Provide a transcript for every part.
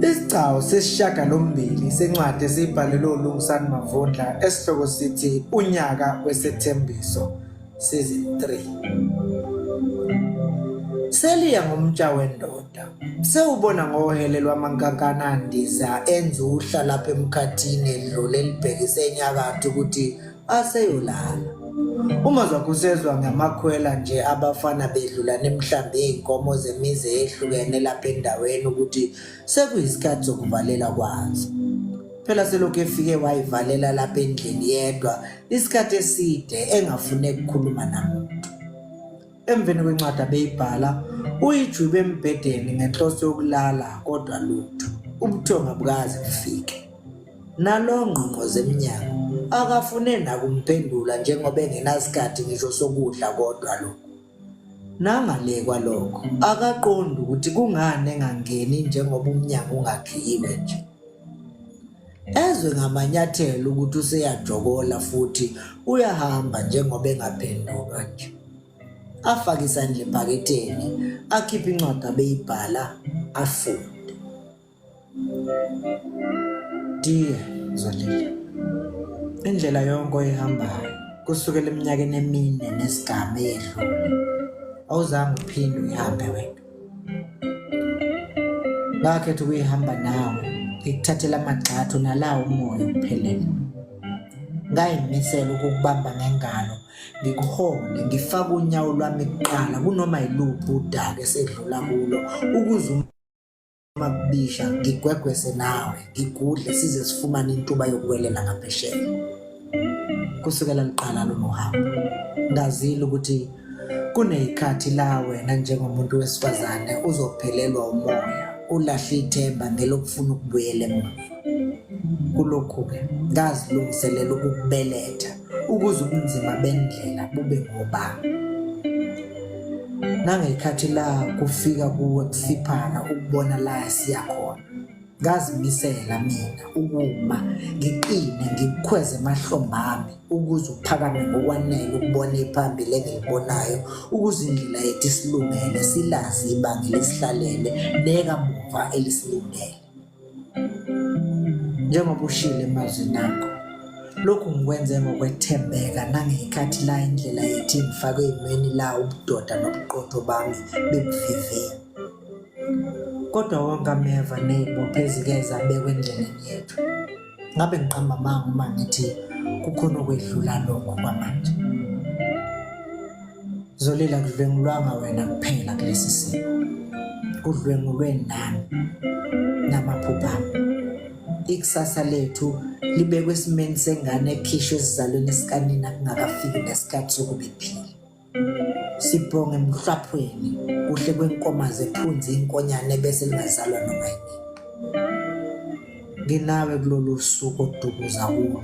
Isigcawu sesishiyagalombili sencwadi esiyibhalelwe uLungisani Mavundla esihloko sithi Unyaka Wesethembiso Season 3 Seliya ngomtsha wendoda sewubona ngohele lwamankankana andiza enza uhla lapha emkhathini edlule libhekise enyakatho ukuthi aseyolala uma zakusezwa ngamakhwela nje abafana bedlula nemhlambi izinkomo zemizi ehlukene lapha endaweni ukuthi sekuyisikhathi sokuvalela kwazo phela selokhu efike wayivalela lapha endlini yedwa isikhathi eside engafune ukukhuluma namuntu Emveni kwencwadi abeyibhala, uyijwibe embhedeni ngenhloso yokulala kodwa lutho. Ubuthonga bukazi bufike. Nalo ngqongqoze emnyango akafune nakumphendula njengoba engenasikhathi ngisho sokudla kodwa lokho. Nangale kwalokho akaqondi ukuthi kungani engangeni njengoba umnyango ungakhiyiwe nje. ezwe ngamanyathelo ukuthi useyajokola futhi uyahamba njengoba engaphenduka nje afake isandla ebhaketheni akhiphe incwadi abeyibhala afunde dear zolile indlela yonke oyihambayo kusukela eminyakeni emine nesigamu eyedlule awuzange uphinde uyihambe wena ngakhetha ukuyihamba nawe ngikuthathela amagxathu nalawo umoya uphelele ngayimisela ukukubamba ngengalo ngikuhole ngifake unyawo lwami kuqala kunoma yiluphi udaka esedlula kulo ukuze Mabisha ngigwegwese nawe ngigudle size sifumane intuba yokuwelela ngaphesheya kusukela liqala lolu hambo ngazile ukuthi kuneyikhathi la wena njengomuntu wesifazane uzophelelwa umoya ulahle ithemba ngelokufuna ukubuyela emuva kulokhu-ke ngazilungiselela ukukubeletha ukuze ubunzima bendlela bube ngoba nangekhathi la kufika kuwe kusiphana ukubona la siyakhona ngazimisela mina ukuma ngiqine ngikukhweze emahlombe ami ukuze uphakame ngokwanele ukubona iphambili engilibonayo ukuze indlela yethu isilungele silazi ibanga lesihlalele nekamuva elisilungele njengoba ushile mazwi nakho lokhu ngikwenze ngokwethembeka nangeyikhathi la indlela yethi ngifake eyimeni la ubudoda nobuqotho bami bebuvivini kodwa wonke ameva ney'bopho ezike zabekwa endleleni yethu ngabe ngiqamba amanga uma ngithi kukhona okwedlula lokho kwamanje zolela kudlwengulwanga wena kuphela kulesi simo kudlwengulwe nami namaphupha ikusasa lethu libekwe esimeni sengane ekhishwe esizalweni esikanina kungakafiki nesikhathi sokubiphila sibhonge emhlwaphweni kuhle kwenkoma zephunzi inkonyane bese lingazalwa noma yini nginawe kulolu suku odukuza kulo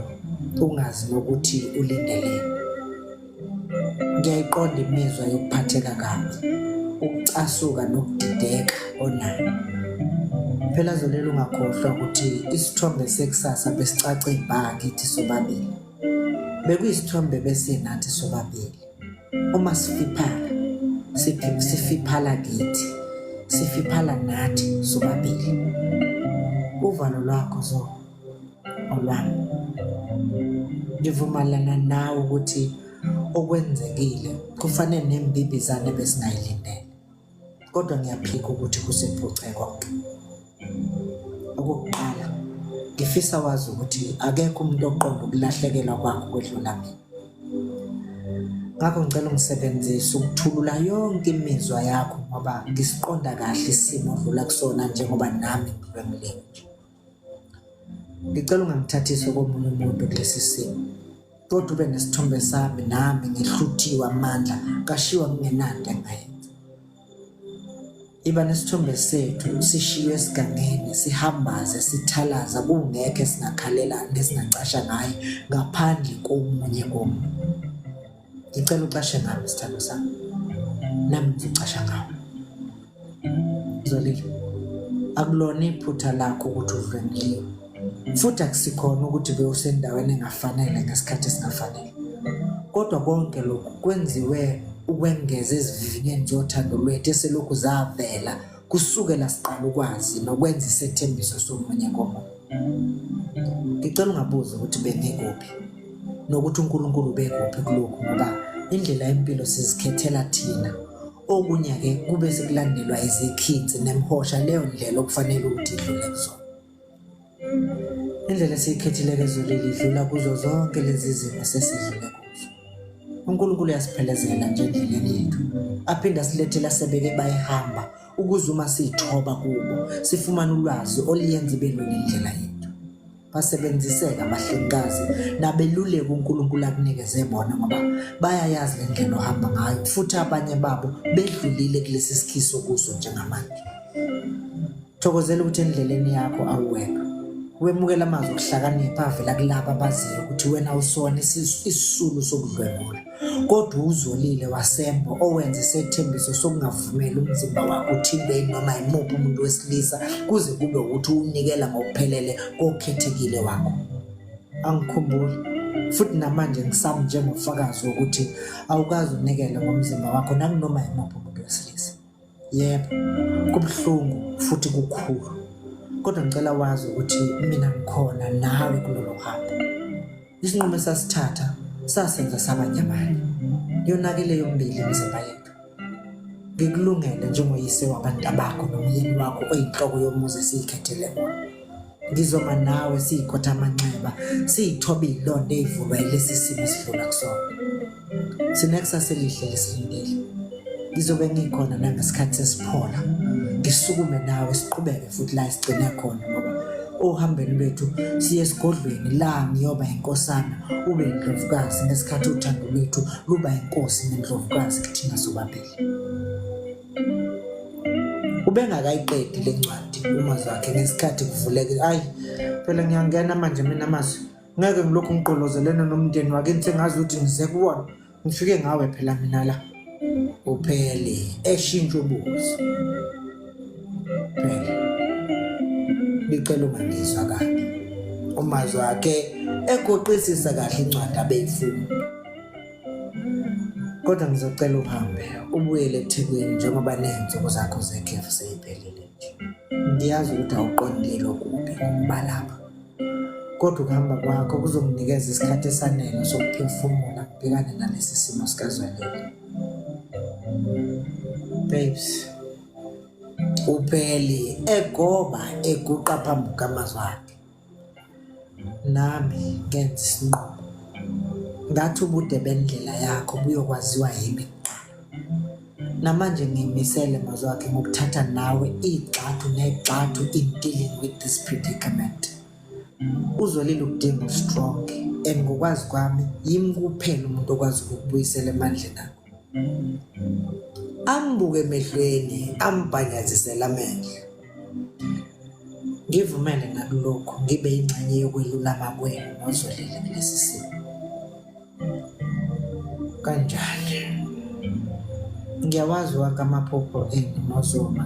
ungazi nokuthi ulindeleni ngiyayiqonda imizwa yokuphatheka kabi ukucasuka nokudideka onayo phela zolelo ungakhohlwa ukuthi isithombe sekusasa besicace ibha kithi sobabili bekuyisithombe besinathi sobabili uma sifiphala sifiphala kithi sifiphala nathi sobabili uvalo lwakho zo olwami ngivumalana nawe ukuthi okwenzekile kufanele nembibizane besingayilindele kodwa ngiyaphika ukuthi kusephuce konke okokuqala ngifisa wazi ukuthi akekho umuntu oqonda ukulahlekelwa kwakho kwedlula mina ngakho ngicela ungisebenzise ukuthulula yonke imizwa yakho ngoba ngisiqonda kahle isimo odlula kusona njengoba nami ngilwemleni nje ngicela ungamthathisi komunye umuntu kulesi simo kodwa ube nesithombe sami nami ngihluthiwe amandla kashiwa kungenanto engayenza iba nesithombe sethu sishiywe esigangeni sihambaze sithalaza kungekho esingakhalela nesingacasha ngaye ngaphandle komunye komuntu Ngicela ucashe ngami sithando sami. Nami ngicasha ngawe. Zolile. Akulona iphutha lakho ukuthi udlwengile. Futhi akusikhona ukuthi bewusendaweni engafanele ngesikhathi esingafanele. Kodwa konke lokhu kwenziwe ukwengeza ezivivinyeni zothando lwethu eselokhu zavela kusukela siqala ukwazi nokwenza isethembiso somunye komunye ngicela ungabuza ukuthi bengikuphi nokuthi uNkulunkulu ubekuphi kulokhu ngoba indlela yempilo sizikhethela thina okunye-ke kube sekulandelwa izikhinzi nemhosha leyo ndlela okufanele ukuthi idlule kuzona Indlela esiyikhethile ke ezulile idlula kuzo zonke lezi zimo sesidlule kuzo. UNkulunkulu uyasiphelezela nje endleleni yethu, aphinde asilethele asebeke bayihamba ukuze uma siyithoba kubo sifumane ulwazi oluyenza ibe lula indlela yethu. Basebenziseka abahlengikazi nabeluleki uNkulunkulu akunikeze bona ngoba bayayazi le ndlela ohamba ngayo futhi abanye babo bedlulile kulesi sikhiso kuso njengamanje. Thokozela ukuthi endleleni yakho awuwedwa. Wemukela amazwi okuhlakanipha avela kulaba abaziyo ukuthi wena usona isisulu sokudlwengula. Kodwa uzolile wasembo owenza isethembiso sokungavumeli umzimba wakho uthintwe noma yimuphi umuntu wesilisa kuze kube ukuthi uwunikela ngokuphelele kokhethekile wakho. Angikhumbuli futhi namanje ngisami njengofakazi wokuthi awukazi unikele ngomzimba wakho nakunoma yimuphi umuntu wesilisa. Yebo, kubuhlungu futhi kukhulu. Kodwa ngicela wazi ukuthi mina ngikhona nawe kulolu hambo. Isinqumo esasithatha sasenza saba nyamanye. Yonake leyo mbili imizimba yethu. Ngikulungele njengoyise wabantu bakho nomyeni wakho oyinhloko yomuzi esiyikhethele wona. ndizoma nawe siyikhotha amanxeba siyithoba iyilonto eyivulwa yilesi simo esidlula kusona sinekusasa elihle lesilindele ngizobe ngikhona nangesikhathi sesiphola ngisukume nawe siqhubeke futhi la sigcine khona ngoba ohambeni lwethu siye esigodlweni la ngiyoba inkosana ube indlovukazi ngesikhathi uthando lwethu luba inkosi nendlovukazi kithina sobabili ubengakayiqedi le ncwadi umazwi wakhe ngesikhathi kuvuleke ayi phela ngiyangena manje mina amazwi ngeke ngilokhu ngiqolozelene nomndeni wakini sengazi ukuthi ngize kuwona ngifike ngawe phela mina la uphele eshintsha ubuso phela ngicela ungangizwa kabi umazwi wakhe egoqisisa kahle incwadi abeyifuna kodwa ngizocela uhambe ubuyele ethekwini njengoba ney'nsuku zakho zekhefu seyiphelile nje ngiyazi ukuthi awuqondile okubi ngokuba lapha kodwa ukuhamba kwakho kuzomnikeza isikhathi esanele sokuphefumula kubhekane nalesi simo sikazwelele babes upheli egoba eguqa phambi kwamazwi akhe nami ngenza isinqumo ngathi ubude bendlela yakho buyokwaziwa yimi namanje ngimisele mazwakhe ngokuthatha nawe igxathu negxathu in dealing with this predicament uzolile ukudinga ustrong and ngokwazi kwami yimi kuphela umuntu okwazi ukukubuyisela emandleni akho ambuke emehlweni ambhanyazisela amehlo ngivumele nakulokhu ngibe ingxenye yokwelulama kwenu ngozolele kulesi simo kanjani ngiyawazi wonke amaphupho enu nozoma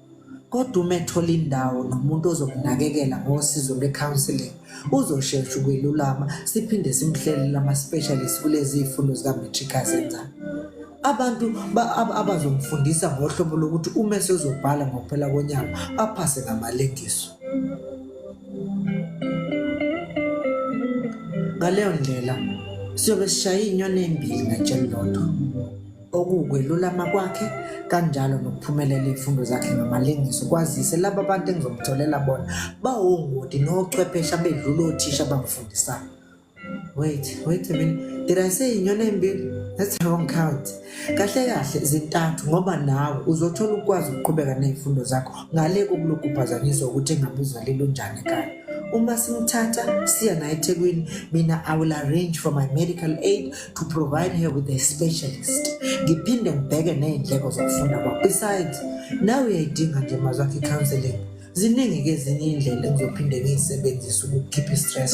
kodwa uma ethola indawo nomuntu ozokunakekela ngosizo lwe-counselling uzoshesha ukwelulama siphinde simhlelele ama-specialist kulezi zifundo zika-matric azenzayo abantu abazomfundisa ngohlobo lokuthi uma esezobhala ngokuphela konyaka aphase ngamalengiso ngaleyo ndlela siyobe sishaye inyoni embili ngatsheni lodwa okuwukwelulama kwakhe kanjalo nokuphumelela izifundo zakhe ngamalengiso kwazise laba bantu engizomtholela bona bawongoti nochwepheshe abedlula othisha abamfundisayo wait wait a minute did i say inyoni embili that's a wrong count kahle kahle zintathu ngoba nawe uzothola ukwazi ukuqhubeka ney'fundo zakho ngale kokulokhu uphazanyiswa ukuthi engabe uzalile unjani ekhaya uma simthatha siya naye ethekwini mina i will arrange for my medical aid to provide her with a specialist ngiphinde ngibheke ney'ndleko zokufunda kwakho besides nawe uyayidinga nje mazwi akhe i-counseling ziningi-ke ezinye iy'ndlela engizophinde ngiyisebenzise ukukhipha i-stress